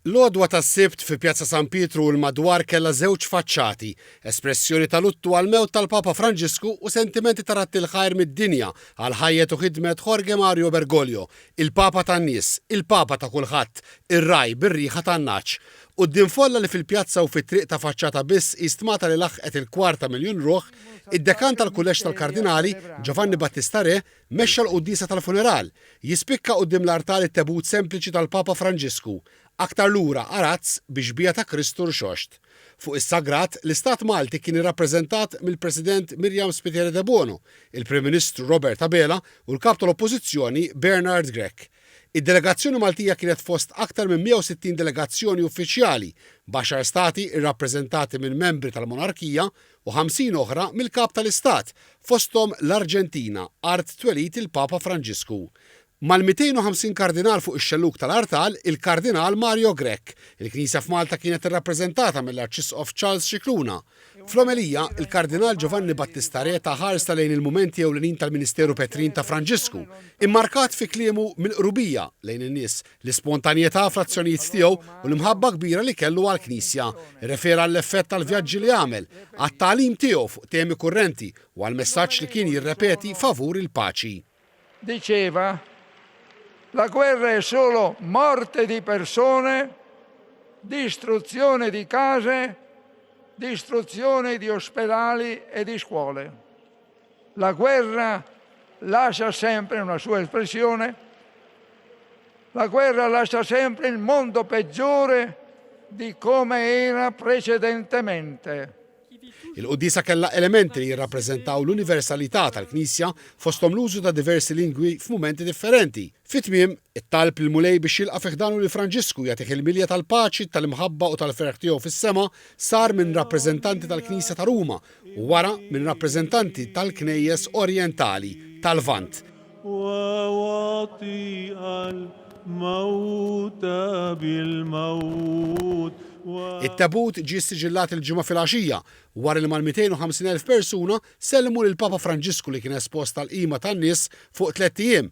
L-għodwa tas-Sibt fi Pjazza San Pietru u l-madwar kellha żewġ faċċati, espressjoni ta' luttu għall-mewt tal-Papa Franġisku u sentimenti ta' radd il-ħajr mid-dinja għal ħajjet u ħidmet Jorge Mario Bergoglio, il-Papa tan-nies, il-Papa ta' kulħadd, ir-ragħaj bir-riħa tan-nagħaġ. Quddiem folla li fil-pjazza u fit-triq ta' faċċata biss hi stmata li laħqet il-kwarta miljun ruħ, id-Dekan tal-Kulleġġ tal-Kardinali, Giovanni Battista Re, Mexxa l-quddiesa tal-funeral, jispikka quddiem l-artal it-tebut sempliċi tal-Papa Franġisku, aktar lura arazz bi xbieha ta' Kristu rxoxt. Fuq is-sagrat, l-istat Malti kien irrappreżentat mill-President Miriam Spiteri Debono, il-Prim Ministru Robert Abela u l-Kap tal-Oppożizzjoni Bernard Grech. Id-delegazzjoni Maltija kienet fost aktar minn 160 delegazzjoni uffiċjali, b'għaxar stati rrappreżentati minn membri tal-monarkija u ħamsin oħra mill-Kap tal-Istat, fosthom l-Arġentina, art twelid il-Papa Franġisku. Mal-250 Kardinal fuq ix-xellug tal-artal, il-Kardinal Mario Grech, il-Knisja f'Malta kienet irrappreżentata mill-Arċisqof Charles Scicluna. Fl-omelija, il-Kardinal Giovanni Battista Re ta ħarsa lejn il-mumenti ewlenin tal-ministeru petrin ta' Franġisku, immarkat fi kliemu mill-qrubija lejn in-nies, l-ispontanjetà fl-azzjonijiet tiegħu u l-imħabba kbira li kellu għall-Knisja. Irrefera għall-effett tal-vjaġġi li għamel, għat-tagħlim tiegħu fuq temi kurrenti u għall-messaġġ li kien jirrepeti favur il-paċi. Diceva, La guerra è solo morte di persone, distruzione di case, distruzione di ospedali e di scuole. La guerra lascia sempre una sua espressione, la guerra lascia sempre il mondo peggiore di come era precedentemente. Il-quddiesa kellha elementi li jirrappreżentaw l-universalità tal-Knisja fosthom l-użu ta' diversi lingwi f'mumenti differenti. Fit-tmiem, It-talb lill-Mulej biex jilqa' fi ħdanu lil Franġisku u jagħtih il-milja tal-paċi, tal-imħabba u tal-ferħ tiegħu fis-sema sar minn rappreżentanti tal-Knisja ta' Ruma u wara minn rappreżentanti tal-Knejjes Orjentali tal-Lvant. It-tebut ġie ssiġillat il-Ġimgħa filgħaxija, wara li mal-250,000 persuna sellmu lill-Papa Franġisku li kien espost għall-qima tan-nies fuq tlett ijiem,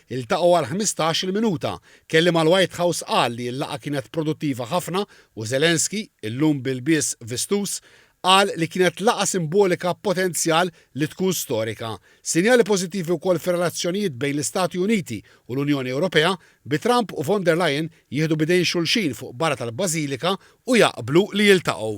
Iltaqgħu għall-ħmistax il minuta. Kelliem għall-White House qal li l-laqgħa kienet produttiva ħafna u Zelensky, illum b'ilbies vistuż, qal li kienet laqgħa simbolika b'potenzjal li tkun storika. Sinjali pożittivi wkoll fir-relazzjonijiet bejn l-Istati Uniti u l-Unjoni Ewropea, bi Trump u von der Leyen jieħdu b'idejn xulxin fuq barra tal-Bażilika u jaqblu li jiltaqgħu.